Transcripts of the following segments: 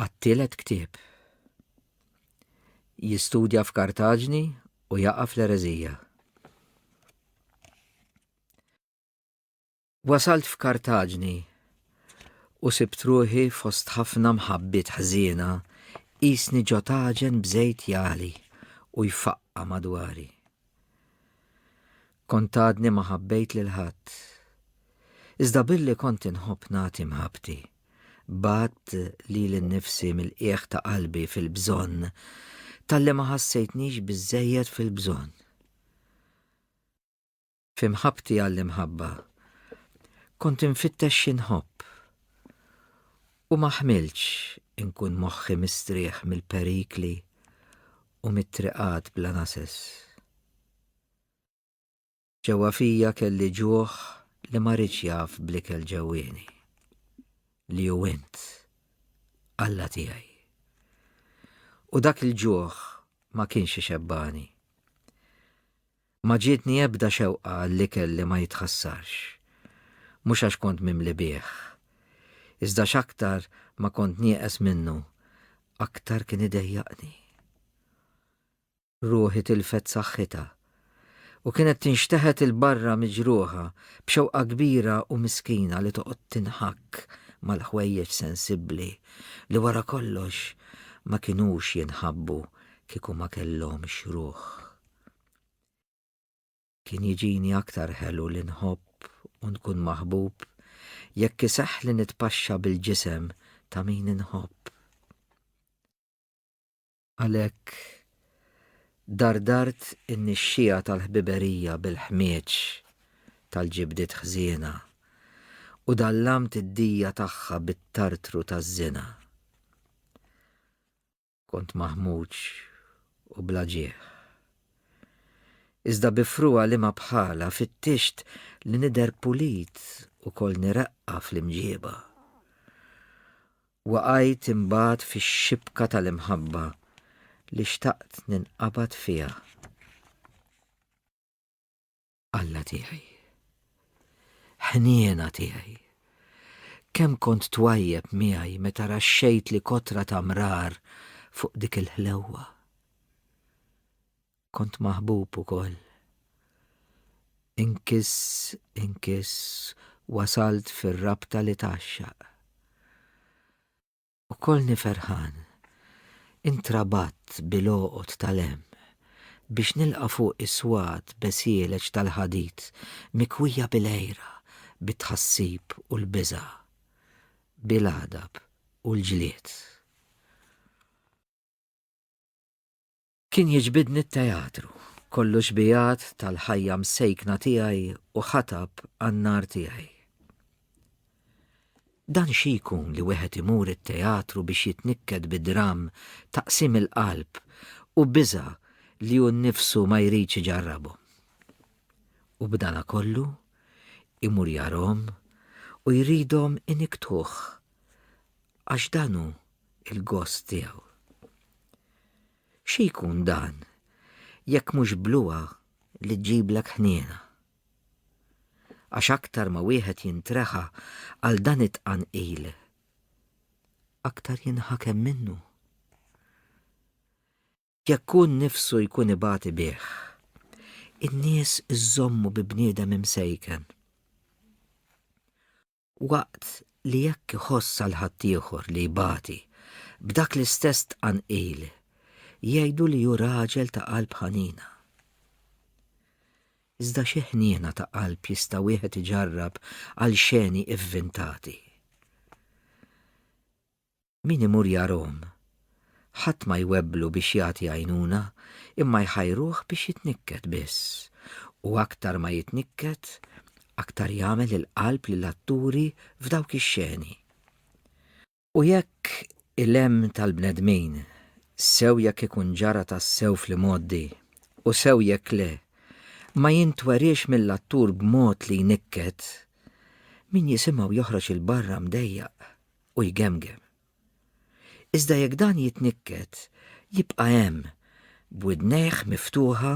għat-tielet ktieb. Jistudja f'Kartaġni u jaqa' fl-ereżija. Wasalt f'Kartaġni u sibt ruħi fost ħafna mħabbiet ħżiena qisni ġo taġen b'żejt jagħli u jfaqqa' madwari. Kont għadni ma ħabbejt lil ħadd. Iżda billi kont inħobb nagħti mħabbti, bgħadt lili nnifsi mill-qiegħ ta' qalbi fil-bżonn talli ma ħassejtnix biżżejjed fil-bżonn. Fi mħabbti għall-imħabba kont infittex xi nħobb u ma ħmiltx inkun moħħi mistrieħ mill-perikli u mit-triqat bla nases. Ġewwa fija kelli ġuħ li ma ridx jaf bl-ikel ġewwieni, li hu int, Alla tiegħi. U dak il-ġuħ ma kienx ixebbani. ma ġietni ebda xewqa għall-ikel li ma jitħassarx. Mhux għax kont mimli bih. Iżda x'aktar ma kont nieqes minnu, aktar kien idejjaqni. Ruħi tilfet saħħitha u kienet tinxteħet 'il barra miġruħa b'xewqa kbira u miskina li toqgħod tinħakk mal-ħwejjeġ sensibbli li wara kollox ma kinux jinħabbu kieku ma kellhomx ruħ. Kien jiġini aktar ħelu li nħobb u nkun maħbub jekk iseħħ li nitpaxxa bil-ġisem ta' min inħobb. Għalhekk dardart in-nixxija tal-ħbiberija bil-ħmieġ tal-ġibdiet ħżiena u dallamt id-dija tagħha bit-tartru taż-żina. Kont maħmuġ u bla ġieħ. Iżda bi fruha li ma bħala fittixt li nidher pulit u kolni reqqa fl-imġieba. Waqajt imbagħad fix-xibka tal-imħabba li xtaqt ninqabad fiha. Alla tiegħi. Ħniena tiegħi. Kemm kont twajjeb miegħi meta raxxejt li kotra ta' mrar fuq dik il-ħlewwa. Kont maħbub ukoll. Inkis, inkis, wasalt fir-rabta li taxxaq. U kollni ferħan, intrabatt bil-għoqod tal-hemm, biex nilqa' fuq is-swat besieleġ tal-ħadid mikwija bil-għira, bit-tħassib u l-biża', bil-għadab u l-ġlied. Kien jiġbidni t-teatru, kollu xbijat tal-ħajja msejkna tiegħi u ħatab għan-nar tiegħi. Dan xi jkun li wieħed imur it-teatru biex jitnikket bi dramm ta' qsim il-qalb u biża' li hu nnifsu ma jridx iġarrabhom. U b'dana kollu, imur jarahom u jridhom iniktħuh għax dan hu il-gost tiegħu. Xi jkun dan jekk mhux bluha li ġġiblek ħniena? Għax aktar ma wieħed jintreħa għal dan it-tqanqil, aktar jinħakem minnu. Jekk hu nnifsu jkun ibati bih, in-nies iżommu bi bniedem imsejken. Waqt li jekk iħoss għal ħaddieħor li jbati b'dak l-istess tqanqil, jgħidu li hu raġel ta' qalb ħanina. Iżda xi ħniena ta' qalb jista' wieħed iġarrab għal xeni ivvintati. Min imur jarahom? Ħadd ma jwebblu biex jagħti għajnuna, imma jħajruh biex jitnikket biss. U aktar ma jitnikket, aktar jagħmel il-qalb lill-atturi f'dawk ix-xeni. U jekk il-hemm tal-bnedmin, sew jekk ikun ġara tassew fl-imgħoddi u sew jekk le, ma jintweriex mill-attur b'mod li jnikket, min jisimgħu joħroġ 'il barra mdejjaq. u jgemgem. Iżda jekk dan jitnikket, jibqa' hemm, b'widnejh miftuħa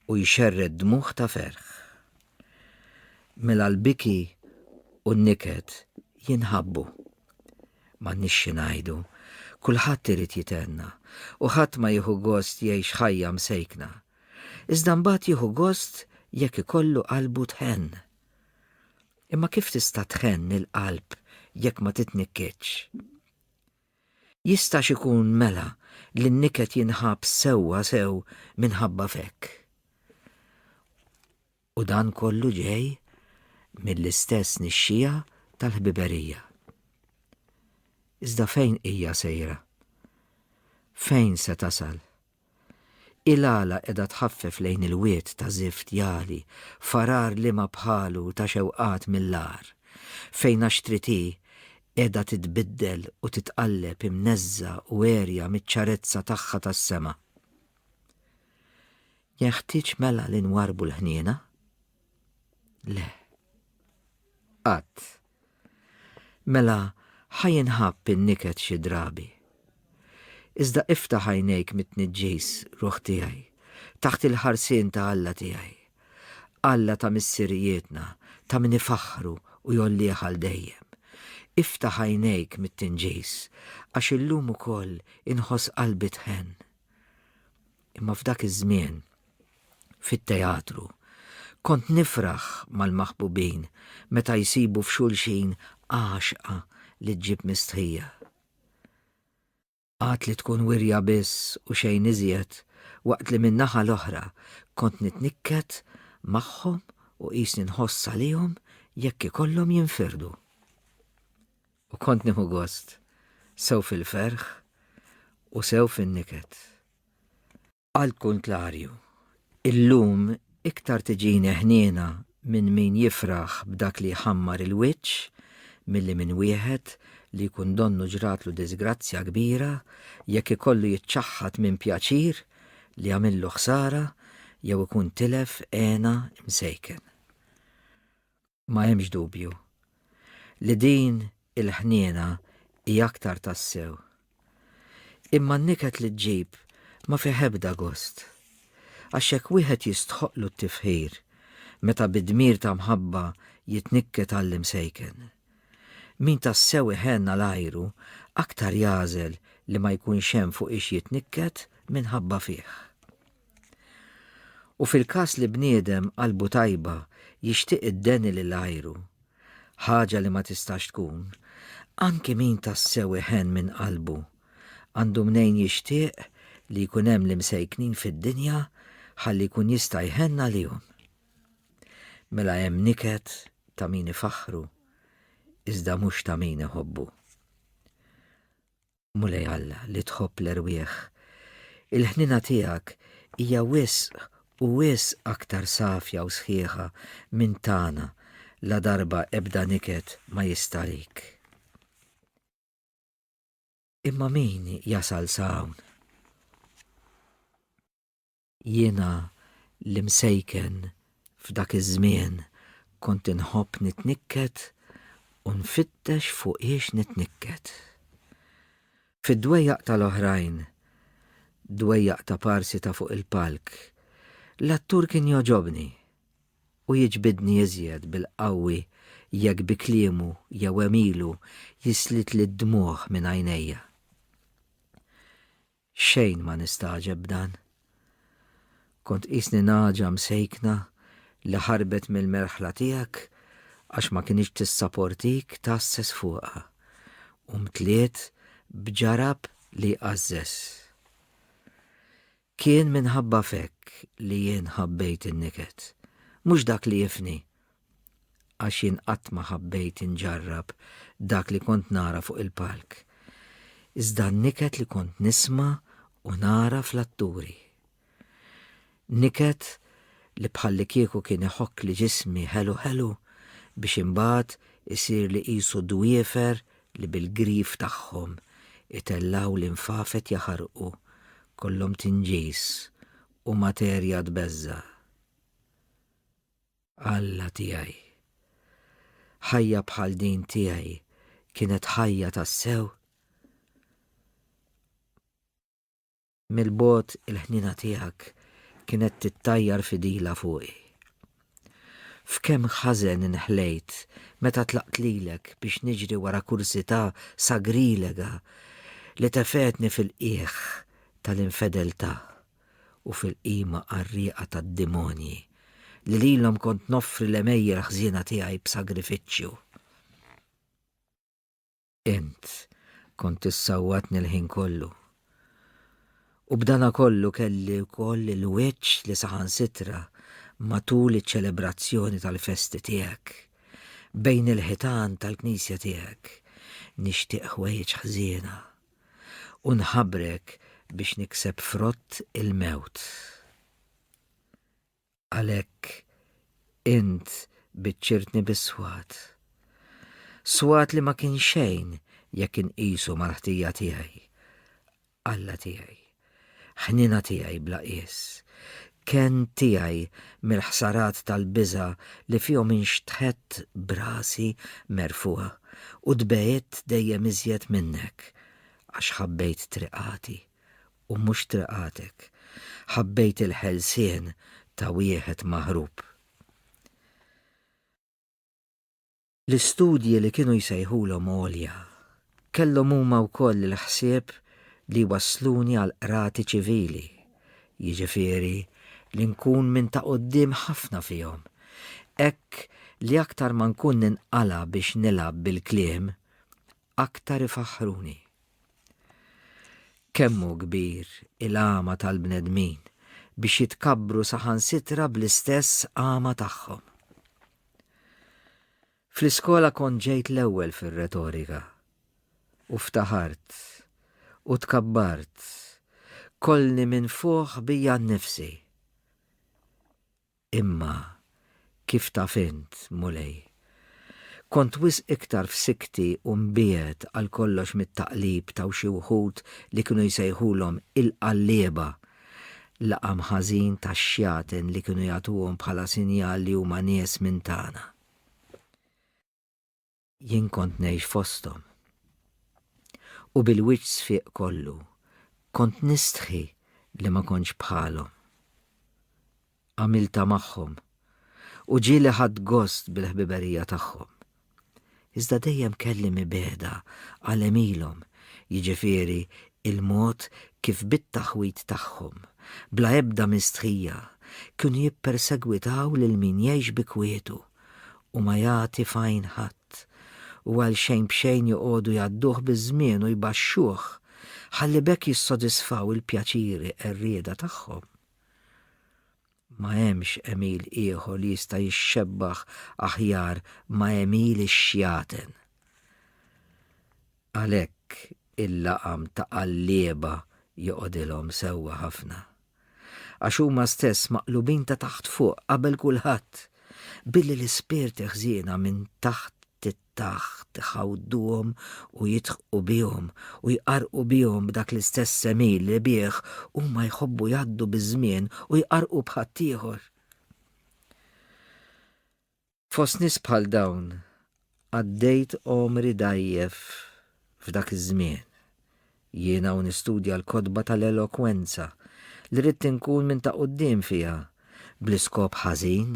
u jxerred dmugħ ta' ferħ. Mela l-biki u n-niket jinħabbu. M'għandniex xi ngħidu, kulħadd irid jithenna u ħadd ma jieħu gost jgħix ħajja msejkna. Iżda mbagħad jieħu gost jekk ikollu qalbu tħenn. Imma kif tista' tħenn il-qalb jekk ma titnikkitx? Jistax ikun mela li n-niket jinħabb sewwa sew minħabba f'hekk? U dan kollu ġej mill-istess nixxiegħa tal-ħbiberija. Iżda fejn hija sejra? Fejn se tasal? Il-għala qiegħda tħaffef lejn il-wied ta' żift jagħli, farar liema bħalu ta' xewqat mill-agħar, fejn għaxtrit hi qiegħda titbiddel u titqalleb imneżżgħa u għerja miċ-ċarezza tagħha tas-sema. Jenħtieġ mela li nwarrbu l-ħniena? Le. Qatt. Mela ħajinħabb in-niket xi drabi. Iżda iftaħ għajnejk mit-tniġġis, ruħ tiegħi, taħt il-ħarsien ta' Alla tiegħi. Alla ta' missirijietna, ta' min ifaħħru u jgħollih għal dejjem. Iftaħ għajnejk mit-tinġis, għax illum ukoll inħoss qalbi tħenn. Imma f'dak iż-żmien, fit-teatru, kont nifraħ mal-maħbubin meta jsibu f'xulxin għaxqa li ġġib mistħija. Għad li tkun wirja biss u xejn iżjed, waqt li min-naħa l-oħra kont nitnikket magħhom u qisni nħoss għalihom jekk ikollhom jinfirdu. U kont nieħu gost sew fil-ferħ u sew fin-niket. Għall-kuntlarju, illum iktar tiġini ħniena minn min jifraħ b'dak li jħammar il-wiċċ milli minn wieħed li jkun donnu ġratlu diżgrazzja kbira jekk ikollu jiċċaħħad minn pjaċir li għamillu ħsara jew ikun tilef hena msejken. Ma hemmx dubju li din il-ħniena hi aktar tassew. Imma n-niket li ġġib ma fih ebda gost. Għax jekk wieħed jistħoqqlu t-tifħir meta bi dmir ta' mħabba jitnikket għall-imsejken. Min tassew iħenn għal għajru aktar jagħżel li ma jkunx hemm fuqiex jitnikket minħabba fih. U fil-każ li bniedem qalbu tajba jixtieq iddeni lil għajru, ħaġa li ma tistax tkun, anki min tassew iħenn minn qalbu għandu mnejn jixtieq li jkun hemm l-imsejknin fid-dinja ħalli jkun jista' jħenn għalihom. Mela hemm niket ta' min ifaħħru iżda mhux ta' min iħobbu. Mulej Alla li tħobb l-erwieħ, il-ħniena tiegħek hija wisq u wisq aktar safja u sħiħa minn tagħna ladarba ebda niket ma jistariek. Imma min jasal sa hawn? Jiena l-imsejken f'dak iż-żmien kont inħobb nitnikket u nfittex fuqiex nitnikket. Fid-dwejjaq tal-oħrajn, dwejjaq ta' parsi ta' fuq il-palk, l-attur kien jogħġobni u jiġbidni iżjed bil-qawwi jekk bi kliemu jew għemilu jislitli d-dmugħ minn għajnejja. Xejn ma nistagħġeb b'dan. Kont qisni nagħġa msejkna li ħarbet mill-merħla tiegħek għax ma kinitx tissaportik tgħasses fuqha u mtliet b'ġarab li jqażżeż. Kien minħabba f'hekk li jien ħabbejt in-niket, mhux dak li jifni għax jien qatt ma ħabbejt inġarrab dak li kont nara fuq il-palk, iżda n-niket li kont nisma' u nara fl-atturi. Niket li bħallikieku kien iħokkli ġismi ħelu ħelu biex imbagħad isirli qisu dwiefer li bil-grif tagħhom itellgħu linfafet jaħarqu, kollhom tinġis u materja tbeżża'. Alla tiegħi. Ħajja bħal din tiegħi kienet ħajja tassew? Mill-bogħod il-ħniena tiegħek kienet tittajjar fidila fuqi. F'kemm ħażen inħlejt meta tlaqt lilek biex niġri wara kursità sagrilega li tefetni fil-qiegħ tal-infedeltà. u fil-qima qarrieqa tad-demonji, li lilhom kont noffri l-għemejjel ħżiena tiegħi b'sagrifiċċju. Int kont issawwatni l-ħin kollu. U b'dana kollu kelli wkoll il-wiċċ li saħansitra matul iċ-ċelebrazzjoni tal-festi tiegħek, bejn il-ħitan tal-knisja tiegħek, nixtieq ħwejjeġ ħżiena. u nħabbrek biex nikseb frott il-mewt. Għalhekk int biċċirtni bis-swat. Swat li ma kien xejn jekk inqisu mal-ħtija tiegħi. Alla tiegħi. Ħniena tiegħi bla qies. Kenn tiegħi mill-ħsarat tal-biża' li fihom inxtħett b'rasi merfugħa u tbegħidt dejjem iżjed minnek, għax ħabbejt triqati u mhux triqatek, ħabbejt il-ħelsien ta' wieħed maħrub. L-istudji li kienu jsejħulhom għolja kellhom huma wkoll il-ħsieb li jwassluni għall-qrati ċivili, jiġifieri li nkun minn ta' quddiem ħafna fihom, hekk li aktar ma nkun ninqala' biex nilgħab bil-kliem, aktar ifaħħruni. Kemm hu kbir il-għama tal-bnedmin biex jitkabbru saħansitra bl-istess għama tagħhom! Fl-iskola kont ġejt l-ewwel fir-retorika. U ftaħart. U tkabbart. Kollni minn fuħ bija nnifsi. Imma, kif taf int, Mulej, kont wisq iktar f'sikti u mbiegħed għal kollox mit-taqlib ta' xi wħud li kienu jsejħulhom il-qallieba L-għam ħażin tax-xjaten li kienu jagħtuhom bħala sinjal li huma nies minn tagħna. Jien kont ngħix fosthom. U bil-wiċċ sfiq kollu, kont nistħi li ma kontx bħalhom. għamiltha magħhom u ġieli ħadt gost bil-ħbiberija tagħhom. Iżda dejjem kelli mibegħda għal għemilhom, jiġifieri l-mod kif bit-taħwid tagħhom, bla ebda mistħija, kienu jippersegwitaw lil min jgħix bi kwietu u ma jagħti f'għajn ħadd, u għal xejn b'xejn joqogħdu jgħadduh biż-żmien u jbaxxuh, ħalli b'hekk jissodisfaw il-pjaċiri qerrieda tagħhom. Ma hemmx għemil ieħor li jista' jixxebbaħ aħjar ma' għemil ix-xjaten. Għalhekk il-laqam ta' qallieba joqgħodilhom sewwa ħafna. Għax huma stess maqlubin ta' taħt fuq qabel kulħadd, billi l-ispirti ħżiena minn taħt taħt iħawduhom u jidħqu bihom u jqarqu bihom b'dak l-istess semil li bih huma jħobbu jgħaddu biż-żmien u jqarqu b'ħaddieħor. Fost nies bħal dawn għaddejt omri dajjef f'dak iż-żmien. Jiena u nistudja l-kotba tal-elokwenza, li ridt inkun minn ta' quddiem fiha, bl-iskop ħażin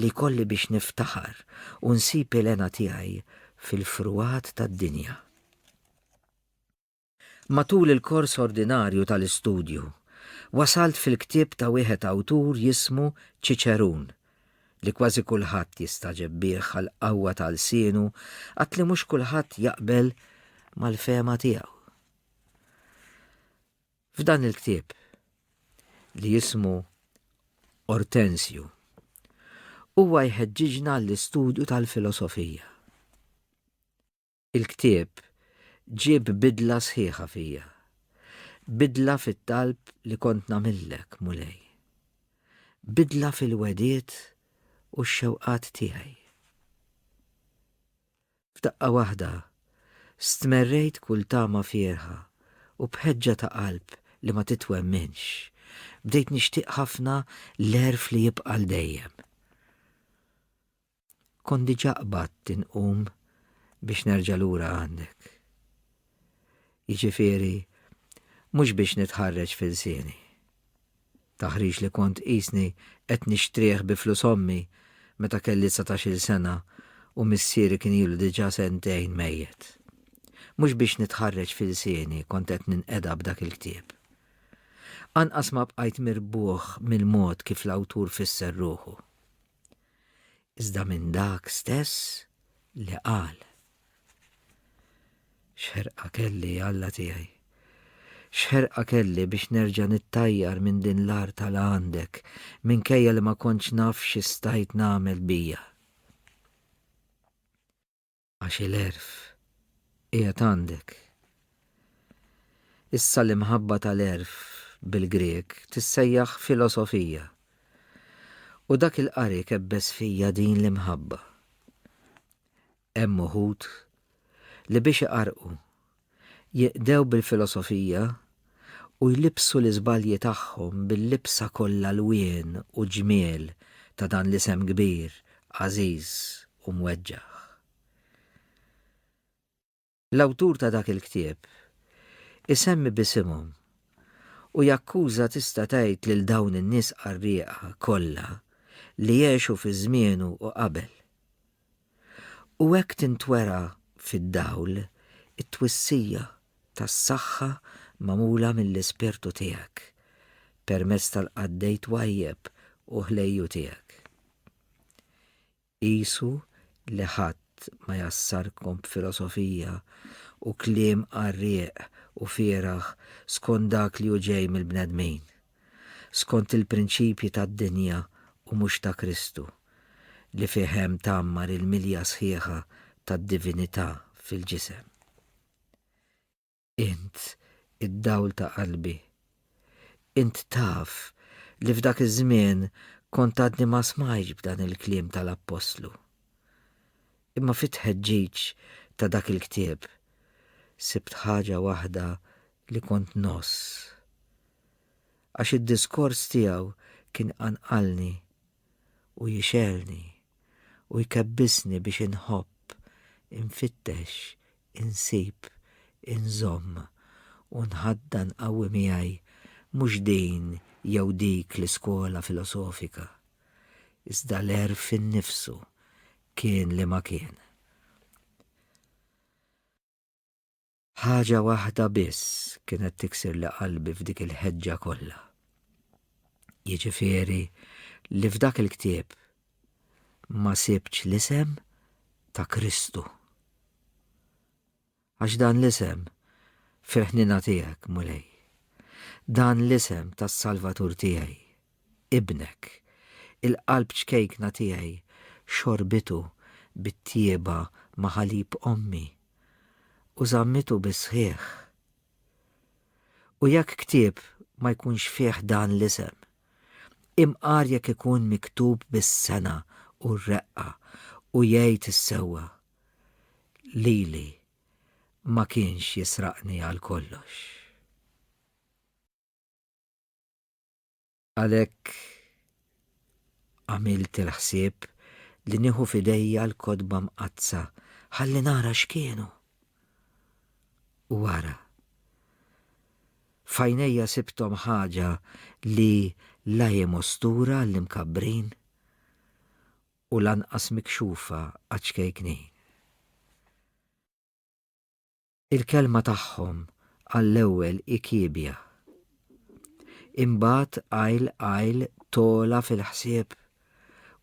li jkolli biex niftaħar u nsib il-hena tiegħi fil-frugħat tad-dinja. Matul il-kors ordinarju tal-istudju, wasalt fil-ktieb ta' wieħed awtur jismu Ċiċerun, li kważi kulħadd jistagħġeb bih għall-qawwa ta' lsienu għad li mhux kulħadd jaqbel mal-fehma tiegħu. F'dan il-ktieb li jismu Ortensju huwa jħeġġiġna għall-istudju tal-filosofija. Il-ktieb ġieb bidla sħiħa fija. Bidla fit-talb li kont nagħmillek, Mulej. Bidla fil-wegħdiet u x-xewqat tiegħi. F'daqqa waħda, stmerrejt kull tama fierħa u b'ħeġġa ta' qalb li ma titwemminx, bdejt nixtieq ħafna l-għerf li jibqa' għal dejjem. Kont diġà qbadt inqum biex nerġa' lura għandek. Jiġifieri, mhux biex nitħarreġ f'ilsieni. Taħriġ li kont qisni qed nixtrih bi flus ommi meta kelli dsatax-il sena u missieri kien ilu diġà sentejn mejjet. Mhux biex nitħarreġ f'ilsieni kont qed ninqeda b'dak il-ktieb. Anqas ma bqajt mirbuħ mill-mod kif l-awtur fisser ruħu. iżda minn dak stess li qal. X'ħerqa kelli, Alla tiegħi! X'ħerqa kelli biex nerġa' nittajjar minn din l-art tal għandek minkejja li ma kontx naf xi stajt nagħmel bija. għax il-għerf qiegħed għandek. Issa l-imħabba tal-għerf bil-Grieg tissejjaħ filosofija. U dak il-qari kebbes fija din l-imħabba. Hemm uħud li biex iqarqu Jiqdew bil-filosofija u jlibbsu l-iżbalji tagħhom bil-libsa kollha lwien u ġmiel ta' dan l-isem kbir, għażiż u mweġġaħ. L-awtur ta' dak il-ktieb isemmi b'isimhom u jakkuża tista' tgħid lil dawn in-nies qarrieqa kollha li għexu fi żmienu u qabel. u hekk tintwera fid-dawl it-twissija tas-saħħa magħmula mill-Ispirtu tiegħek permezz tal-qaddej twajjeb u ħlejju tiegħek. Qisu li ħadd ma jgħassarkom b'filosofija u kliem qarrieq u fieragħ skont dak li hu ġej mill-bnedmin, skont il-prinċipji tad-dinja u mhux ta' Kristu, li fih hemm tgħammar il-milja sħiħa tad-divinità fil-ġisem. Int id-dawl ta' qalbi. Int taf li f'dak iż-żmien kont għadni ma smajtx b'dan il-kliem tal-appostlu. Imma fit-tħeġġiġ ta' dak il-ktieb sibt ħaġa waħda li kont noss. għax id-diskors tiegħu kien jqanqalni u jixgħelni u jkebbisni biex inħobb, infittex, insib, inżomm u nħaddan qawwi miegħi mhux din jew dik l-iskola filosofika, iżda l-għerf innifsu, kien li ma kien. Ħaġa waħda biss kienet tiksirli qalbi f'dik il-ħeġġa kollha. Jiġifieri li f'dak il-ktieb ma sibtx l-isem ta' Kristu. Għax dan l-isem fil-ħnina tiegħek, Mulej. Dan l-isem tas-Salvatur tiegħi Ibnek, il-qalb ċkejkna tiegħi, xorbitu bit-tjieba ma' ħalib ommi, u żammitu bis-sħiħ. U jekk ktieb ma jkunx fih dan l-isem, imqar jekk ikun miktub bis-sengħa u r-reqqa u jgħid is-sewwa, Lili ma kienx jisraqni għal kollox. Għalhekk għamilt il-ħsieb li nieħu f'idejja l-kotba mqaddsa ħalli nara x'kienu. U wara. Fajnejja sibtom ħaġa li la hi mostura l-imkabbrin u lanqas mikxufa għaċ-ċkejknin. Il-kelma tagħhom għall-ewwel hi kiebja. Imbagħad għajl għajl togħla fil-ħsieb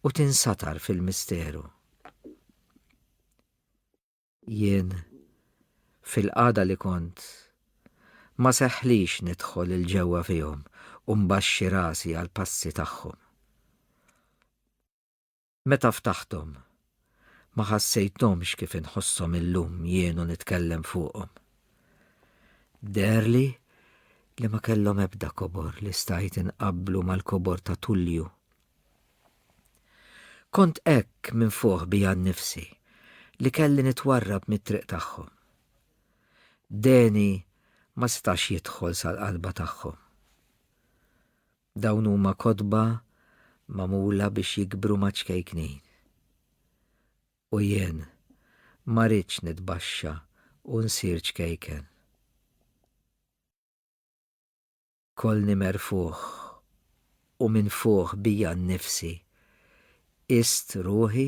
u tinsatar fil-misteru. Jien, fil-qagħda li kont, ma seħħlix nidħol il-ġewwa fihom u mbaxxi rasi għall-passi tagħhom. Meta ftaħthom, ma ħassejthomx kif inħosshom illum jien u nitkellem fuqhom. Deherli li ma kellhom ebda kobor li stajt inqabblu mal-kobor ta' Tullju. Kont hekk minfuħ bija nnifsi li kelli nitwarrab mit-triq tagħhom. Deni ma setax jidħol sal-qalba tagħhom. Dawn huma kotba magħmula biex jikbru maċ-ċkejknin. U jien ma ridtx nitbaxxa u nsir ċkejken. Kollni merfugħ u minfugħ bija nnifsi, qist ruħi